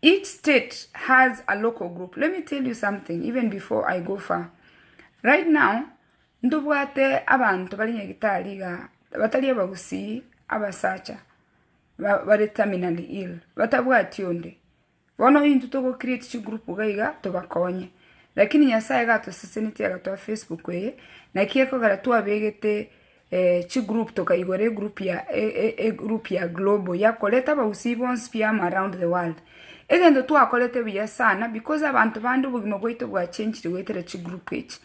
Each state has a local group, let me tell you something even before I go far, right now ntobwate abanto bare Nyagetari iga batari abagusii abasacha ba bare terminally ill batabwati onde, bono intwe togo create chigroup iga iga tobakonye, lakini Nyasaye iga atoseseneti agatoa Facebook eye naki ekogera twabegete. Chi group tokaigora egroup ya egroup ya global yakorete abagusii bonsi pi amo around the world. Egento twakorete buya sana because abanto bande obogima bwaito bwa changire goetera chi group echi.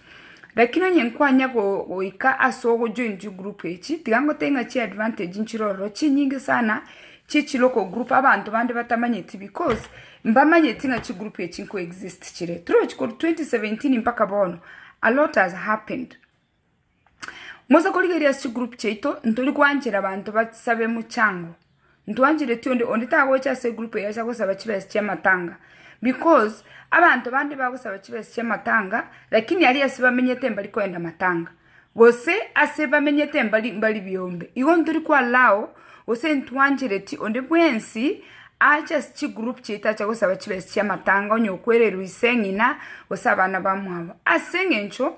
Lakini onye nkwanya go goika ase ogo join chi group echi tiga ngotebie ng'a chi advantage nchire ororo chinyinge sana chi chi local group abanto bande batamanyeti because mbamanyeti ng'a chi group echi nko exist chire. Torochi korwa twenty seventeen mpaka bono alot has happened. Mosa korigereria ase chigroup chiaito, ntori koanchera abanto basabe mochango, ntwanchereti onde, onde tagocha ase egroup eye acha gosaba chibesa chi'amatanga, because abanto bande bagosaba chibesa chi'amatanga, lakini aria ase bamenyete mbari koenda matanga, gose ase bamenyete mbari mbari biombe, igo ntori ko allow, gose ntwanchereti onde bwensi, ache ase chigroup chiaito ache gosaba chibesa chi'amatanga, onye okwererwa ise, ng'ina, gose abana bamwabo, aseng'encho.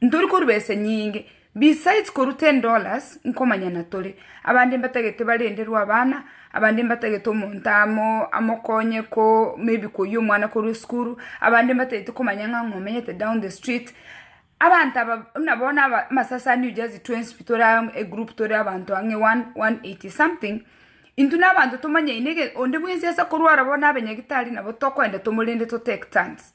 Ntori koruba ese nyinge, besides korwa ten dollars, nkomanyana tore. Abande mbatagete barenderwe abana, abande mbatagete omonto amo amokonye ko maybe koyia omwana korwa esukuru, abande mbatagete komanya ng'a ng'a omenyete down the street. Abanto aba buna bono aba amasasani you just twenty tore aa egroup tore abanto ang'e one one eighty something, intwe na abanto tomanyaine ege onde bwensi ase korwara bono abe nyagitari nabo tokoenda tomorende to take turns.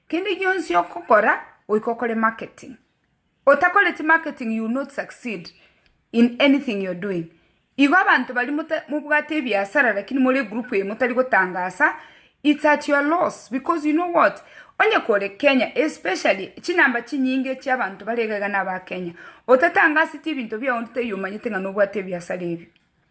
Kende gionsi ogokora goika okore marketing. Otakoreti marketing you will not succeed in anything you're doing. Igo abanto baria mota mobwate ebiasara lakini more egroup eye motari gotangasa it's at your loss because you know what? Onye kore Kenya especially chinamba chinyinge chia abanto bare iga iga naba Kenya. Otatangaseti ebinto biao onde taiyo omanyete ng'a nobwate ebiasara ebio.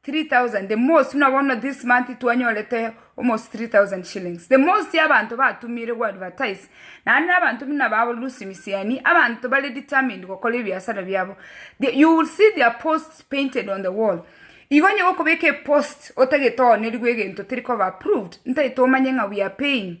Three thousand, the most buna bono this month twanyorete almost three thousand shillings, the most y'abanto batumire go advertise, naende n'abanto buna aba abo Lucy Misiani, abanto bare determined gokora ebiasara biabo, the you will see their posts painted on the wall, igo onye gokobeka epost otagete oonerigwe egento teri koba approved, ntaete omanye ng'a we are paying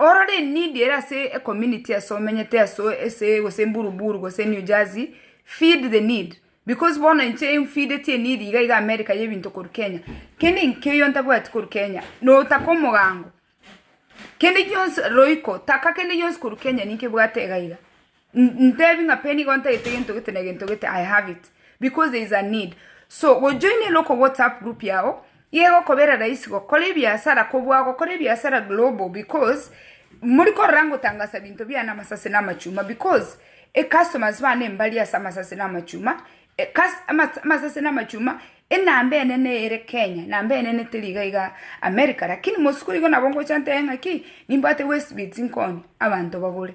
Orore enidi ere ase ecommunity ase omenyete ase ase gose mburu buru gose New Jersey feed the need because bono inche nfideti enidi iga iga America ya ebinto korwa Kenya kende nkeyo ntabwati korwa Kenya notaka omogamgo kende gionsi roiko taka kende gionsi korwa Kenya ninkebwate iga iga. Ntebi ng'a pe nigo ntagete gento gete na gento gete, I have it because there is a need. So gojoina local WhatsApp group yao igekokobera rahisi gokora ebiasara kobua gokora ebiasara global because mori korora ngotangasa binto biane amasase na amachuma because e customers bane mbari ase amasase na amachuma, amasase na amachuma enamba enene ere Kenya, namba enene teri iga iga America lakini mosiko igo nabo ngocha ntebe ng'a ki, nimbwate Westbits nkoonie abanto bagore.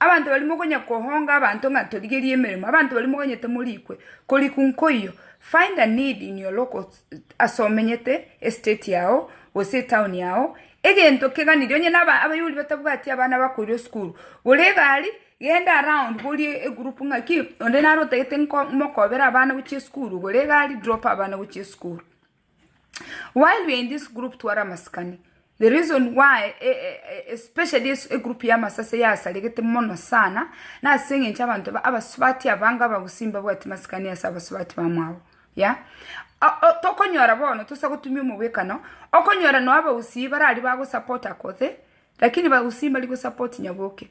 Abanto baria mokonya kohonga abanto ng'a torigerie emeremo, abanto baria mokonya temorikwe, korikwa nkoiyo, find a need in your local ase omenyete, estate yao, gose etown yao, egento keganirie onye na aba abayio oria batabwati abana bakoirwa esukuru, gora egari, genda around borie egroup ng'aki, onde naro otagete nko mokobera abana gochia esukuru, gora egari drop abana gochia esukuru. While we are in this group tware amasikani, the reason why especially egroup ya amasasi eye asaregete mono sana, na ase eng'encho abanto aba abasubati abange abagusii mbabwati masikani ase abasubati bamwabo yeah tokonyora bono tosa gotumia omogwekano, okonyora noo abagusii baraaria bago support Akothee, lakini bagusii mbari go support Nyaboke.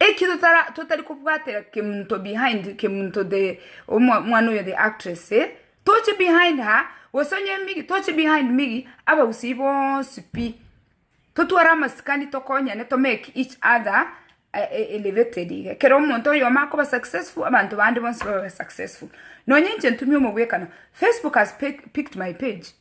Eki totara totari kobwatera kemunto behind kemunto the omwa mwana oyo the actress eh toche behind ha gose onye migi toche behind migi abagusii bonsi pi totware amasikani tokonyane to make each other elevated iga ekero omonto oyomo akoba successful abanto bande bonsi babe successful nonye inche ntumia omogwekano Facebook has picked my page.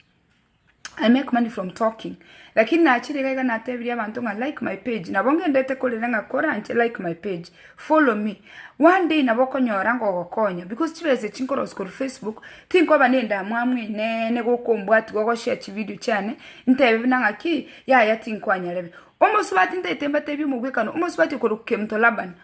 I make money from talking lakini nachirie iga iga natebirie abanto ng'a like my page nabo ngendete korera ng'a kora inche like my page follow me one day nabo okonyora ngogokonya because chibesa echi nkorosiwa korwa facebook tinkoba na endamwamu eneene goka ombwatia ogoshare chividio chiane ntebe buna ng'aki yaya tinkwanyara ebe. Omosubati ntaete mbatebie omogwekano omosubati okorokwa kemto laban.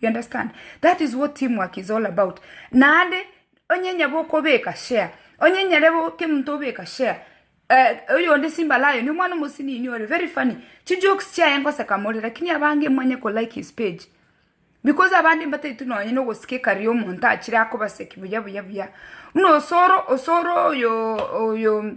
You understand? That is what team work is all about. Naende onye nyaba okobeka share, onye nyare bo kera omonto obeka share, eh, oyonde Simba Lion, omwana omosini inwe ore very funny, chijokes chiaye ngoseka more, lakini abange mwanye ko like his page. Because abande mbataiti nonye na ogosikeka riria omonto achire akobaseki buya buya buya. Buna osoro, osoro oyo, oyo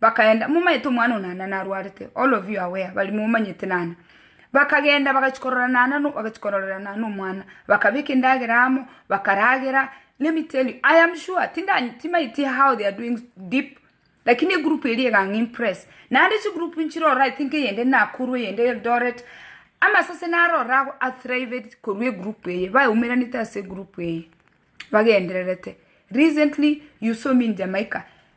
bakaenda, momanyete omwana one naende narwarete, all of you are aware, baria momanyete naende, bakagenda bagachia korora naende no, bagachia kororera naende nomwana, bakabeka endagera amo, bakaragera, let me tell you, i am sure tinda timaeti how they are doing deep, lakini egroup eria egang'a impress, naende chigroup nchiroro i think eyende nakuru, eyende eldoret, amasase naro ororo ago a thrived korwa egroup eye, baumeranete ase egroup eye, bagendererete, recently you saw me in Jamaica.